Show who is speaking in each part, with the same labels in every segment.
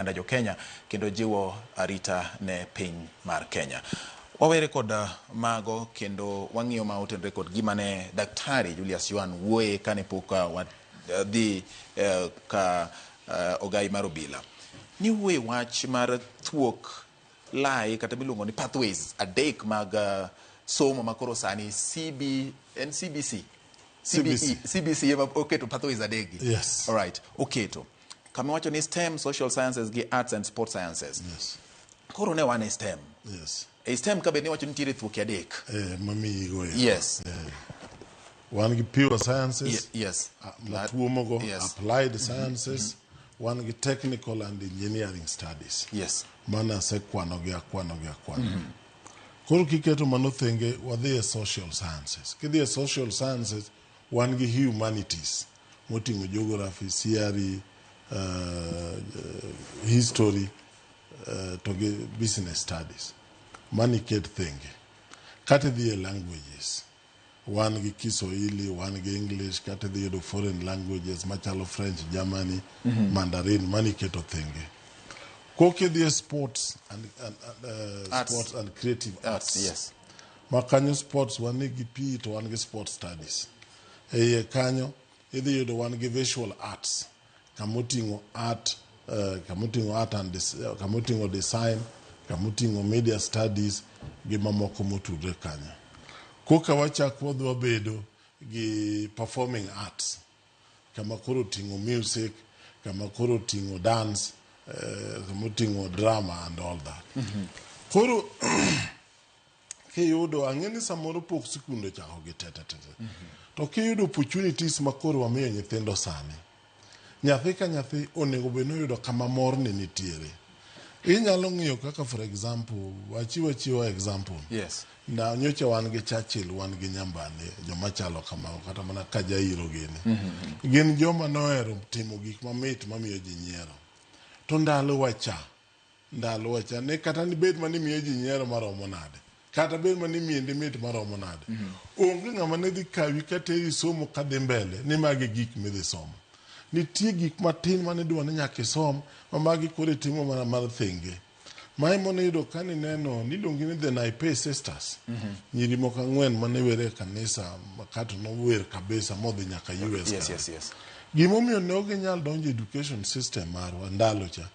Speaker 1: oganda jo Kenya kendo jiwo arita ne piny mar Kenya. Wawere kod mago kendo wang'iyo ma otenre kod gima ne Daktari Julius Yuan wuoye kane pok uh, wa- uh, dhi uh, ka uh, ogai mar obila. Ni wuoye wach mar thuok lai kata miluongo ni pathways adek mag uh, somo ma koro sani CB, en CBC? CBE, CBC ema oketo pathways adegi? Yes. All right,
Speaker 2: oketo.
Speaker 1: kama wacho ni STEM, social sciences gi arts and sports sciences. Yes. Koro
Speaker 2: ne wan e
Speaker 1: STEM. Yes. E STEM
Speaker 2: ka be ne wacho
Speaker 1: ni nitiere thuoke adek. Eh, mamiyi go. Yes.
Speaker 2: Yeah. Wan gi pure sciences. Ye, yes. Uh,
Speaker 1: matuomo go yes.
Speaker 2: applied mm-hmm. sciences. Mm -hmm. Wan gi technical and engineering studies. Yes. Mana
Speaker 1: asekwano
Speaker 2: gi akwano gi akwano. Mm -hmm. Koro kiketo mano thenge wadhi e social sciences. Kidhi e social sciences Wan gi humanities moting'o geography, CRE, uh, history uh, to gi business studies mani ket thenge. Kata idhi e languages wan gi Kiswahili, wan gi English, kata idhi yudo foreign languages machalo French, Germany, Mandarin mani keto thenge. Kokidhi e sports and, and, and, uh, Arts. sports and creative arts. Yes. Ma
Speaker 1: kanyo
Speaker 2: sports wan gi PE to wan gi sports studies. E iye kanyo idhi yudo wan gi visual arts kama oting'o art, uh, kama oting'o art and dis, uh, kama oting'o design, kama oting'o media studies gi mamoko motudre kanyo. Koka wachak wadhi wabedo gi performing arts kama koro oting'o music, kama koro oting'o dance, uh, kama oting'o drama and all that. Mm -hmm. Koro kiyudo ang'e ni samoro pok sikunde ochako gi tetetete to kiyudo opportunities ma koro wamiyo nyithindo sani nyathi ka nyathi onego bed ni oyudo kama morni nitiere inyalo ng'iyo kaka for example wachiwo achiwa example Yes. na
Speaker 1: nyocha wan
Speaker 2: gi Churchill wan gi Nyambane joma chalo kamago kata mana ka jairo gini gin joma nohero timo gik mamit mamiyo ji nyiero to ndalo wacha ndalowacha ni kata nibed ma nimiyo ji nyiero maromo nade kata bed ma nimiendi mit maromo nade onge ng'ama ne dhi kawi kateri somo kadhi mbele ni magi gik midhi somo nitie gik matin ma nidwa ni nyaka isom ma magi koro itimo mana mar thenge ma ema niyudo ka nineno niluongi ni the Naipei sisters nyiri moko ang'wen ma niwere e kanisa ma kato nower kabisa modhi nyaka US Yes, kanyo. yes, yes.
Speaker 1: Gimomiyo ne ok
Speaker 2: ginyal donjo e education system marwa ndalo cha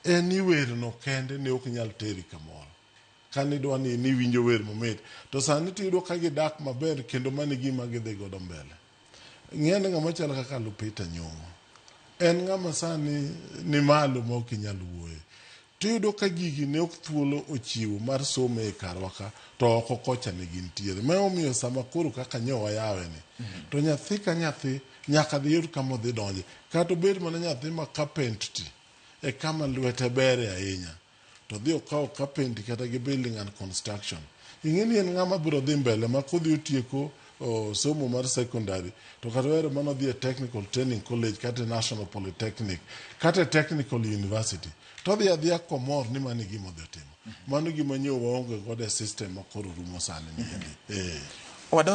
Speaker 2: En ni werno kende ne ok nyal teri kamoro. Ka nidwa ni niwinjo wer mamit, to sani to iyudo ka gidak maber kendo mano e gima gidhi godo mbele. Ng'i ane ng'ama chalo kaka Lupita Nyong'o. En ng'ama sani ni malo ma ok inyal wuoye. To iyudo ka gigi ne ok thuolo ochiwo mar somo e karwa ka, to oko kocha ne gintiere. Ma emomiyo sama koro kaka nyo wayaweni, to nyathi ka nyathi Nyaka dhi yud kama odhi donje. Kata obed mana nyathi ma kapentiti e kama lwete bere ahinya, to dhi okawo kapenti kata gi building and construction. Ing'e ni en ng'ama biro dhi mbele ma kodhi otieko o, somo mar secondary to kata ohero mana odhi e technical training college kata e national polytechnic kata e technical university to odhi adhiya komor ni mano e gima odhi otimo mano gima nyo waonge godo e system ma koro rumo sani ni endi eh. Wadonj